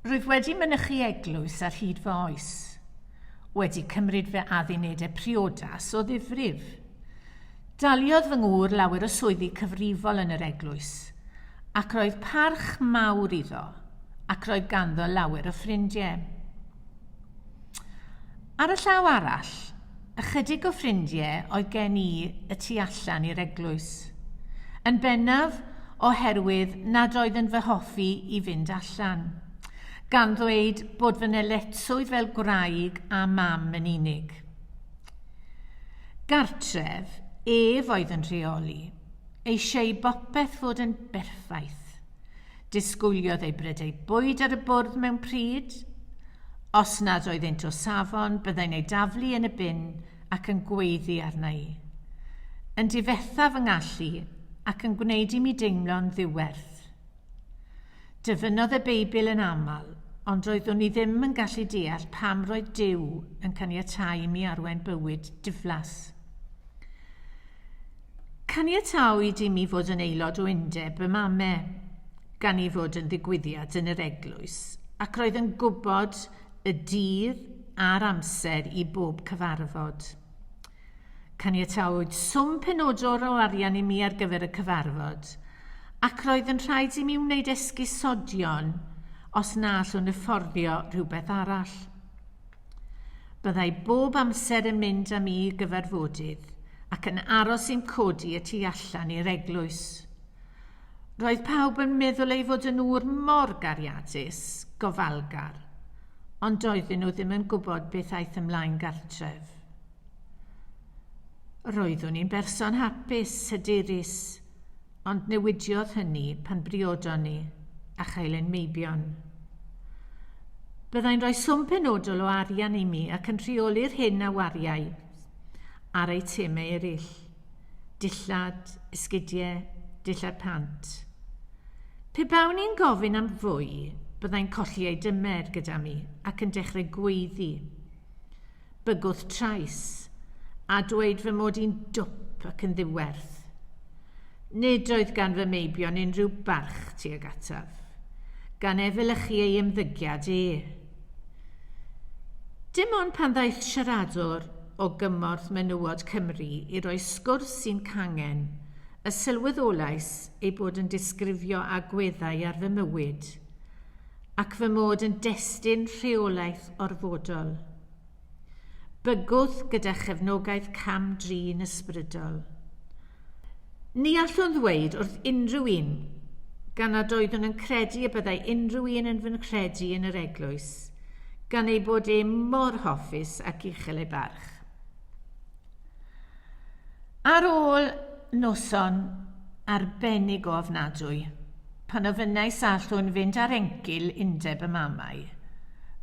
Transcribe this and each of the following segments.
Rwyf wedi mynychu eglwys ar hyd fy oes. Wedi cymryd fy addunedau priodas o ddifrif. Daliodd fy ngŵr lawer o swyddi cyfrifol yn yr eglwys, ac roedd parch mawr iddo, ac roedd ganddo lawer o ffrindiau. Ar y llaw arall, ychydig o ffrindie oedd gen i y tu allan i'r eglwys. Yn bennaf o herwydd nad oedd yn fy hoffi i fynd allan, gan ddweud bod fy nyletswydd fel gwraig a mam yn unig. Gartref, ef oedd yn rheoli, eisieu bopeth fod yn berffaith. Disgwyliodd ei bred ei bwyd ar y bwrdd mewn pryd. Os nad oeddynt o safon, byddai'n ei daflu yn y bin ac yn gweiddi arna i. Yn difetha fy ngallu ac yn gwneud i mi deimlo'n ddiwerth. Dyfynnodd y Beibl yn aml, ond roeddwn i ddim yn gallu deall pam roedd Duw yn caniatáu i mi arwain bywyd diflas. Caniatawyd i mi fod yn aelod o undeb y mame, gan ei fod yn ddigwyddiad yn yr eglwys, ac roedd yn gwybod y dydd a'r amser i bob cyfarfod. Caniatawyd swm penodol o arian i mi ar gyfer y cyfarfod, ac roedd yn rhaid i mi wneud esgusodion os na allwn yfforddio rhywbeth arall. Byddai bob amser yn mynd â mi i gyfarfodydd ac yn aros i'n codi y tu allan i'r eglwys. Roedd pawb yn meddwl ei fod yn ŵr mor gariadus, gofalgar, ond doedden nhw ddim yn gwybod beth aeth ymlaen gartref. Roeddwn i'n berson hapus, hyderus, ond newidiodd hynny pan briodon ni, a chael ein meibion. Byddai'n rhoi swm penodol o arian i mi ac yn rheoli'r hyn a wariai ar eitemau eraill, dillad, esgidiau, dillad pant. Pe bawn i'n gofyn am fwy, byddai'n colli ei dymer gyda mi ac yn dechrau gweiddi. Bygwth trais, a dweud fy mod i'n dwp ac yn ddiwerth. Nid oedd gan fy meibion unrhyw barch tuag ataf, gan efelychu ei ymddygiad e. Dim ond pan ddaeth siaradwr o gymorth menywod Cymru i roi sgwrs sy'n cangen, y sylweddolais ei bod yn disgrifio agweddau ar fy mywyd. ac fy mod yn destun rheolaeth orfodol. Bygwth gyda chefnogaeth cam-drin ysbrydol. Ni allwn ddweud wrth unrhyw un gan nad oeddwn yn credu y byddai unrhyw un yn fy nghredu yn yr eglwys, gan ei bod e mor hoffus ac uchel ei barch. Ar ôl noson arbennig o ofnadwy, Pan ofynnais a allwn fynd ar engil undeb y mamau,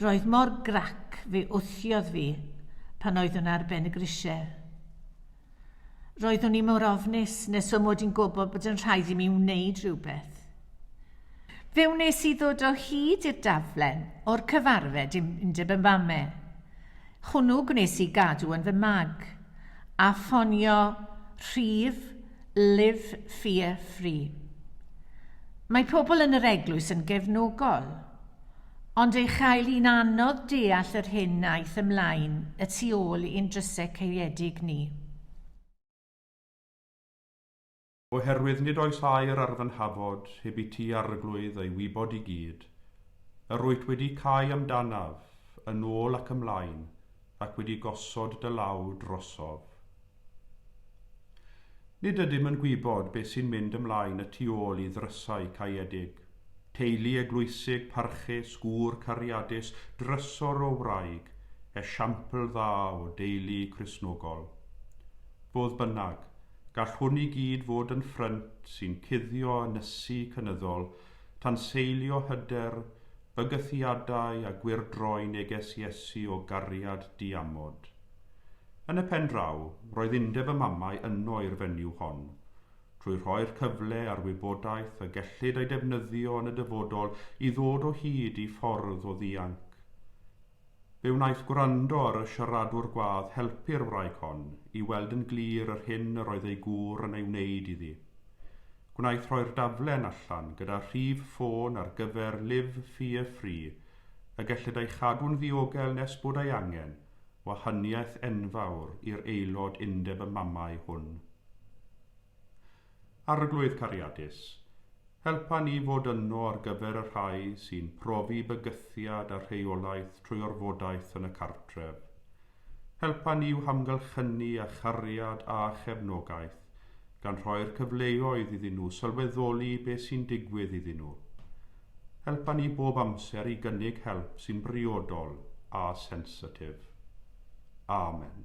roedd mor grac fe wthiodd fi pan oeddwn ar ben y grisiau. Roeddwn i mor ofnus nes fy mod i'n gwybod bod yn rhaid i mi wneud rhywbeth. Fe wnes i ddod o hyd i'r daflen o'r cyfarfed im undeb y mamau. Hwnnw gwnes i gadw yn fy mag, a ffonio rhif Live Fear Free. Mae pobl yn yr eglwys yn gefnogol, ond ei chael hi'n anodd deall yr hyn aeth ymlaen y tu ôl i'n drysau caeedig ni. Oherwydd nid oes air ar fy nhafod heb i ti arglwydd ei wybod i gyd, yr wyt wedi cau amdanaf, yn ôl ac ymlaen, ac wedi gosod dy law drosof. Nid ydym yn gwybod beth sy'n mynd ymlaen y tu ôl i ddrysau caeedig. Teulu eglwysig, parchus, gŵr cariadus, drysor o wraig, esiampl dda o deulu Cristnogol. Fodd bynnag, gall hwn i gyd fod yn ffrynt sy'n cuddio ynysu cynyddol Tanseilio hyder, bygythiadau a gwyrdroi neges Iesu o gariad diamod. Yn y pen draw, roedd undeb y mamau yno i'r fenyw hon. Trwy rhoi'r cyfle a'r wybodaeth y gellid ei defnyddio yn y dyfodol i ddod o hyd i ffordd o ddianc, fe wnaeth gwrando ar y siaradwr gwadd helpu'r wraig hon i weld yn glir yr hyn yr oedd ei gŵr yn ei wneud iddi. Gwnaeth rhoi'r daflen allan gyda rhif ffôn ar gyfer Liv Fear Free y gellid ei chadw'n ddiogel nes bod ei angen, wahaniaeth enfawr i'r aelod undeb y mamau hwn. Arglwydd cariadus, helpa ni fod yno ar gyfer y rhai sy'n profi bygythiad a rheolaeth trwy orfodaeth yn y cartref. Helpa ni i'w hamgylchynu â chariad a chefnogaeth, gan rhoi'r cyfleoedd iddyn nhw sylweddoli beth sy'n digwydd iddyn nhw. Helpa ni bob amser i gynnig help sy'n briodol a sensitif. Amen.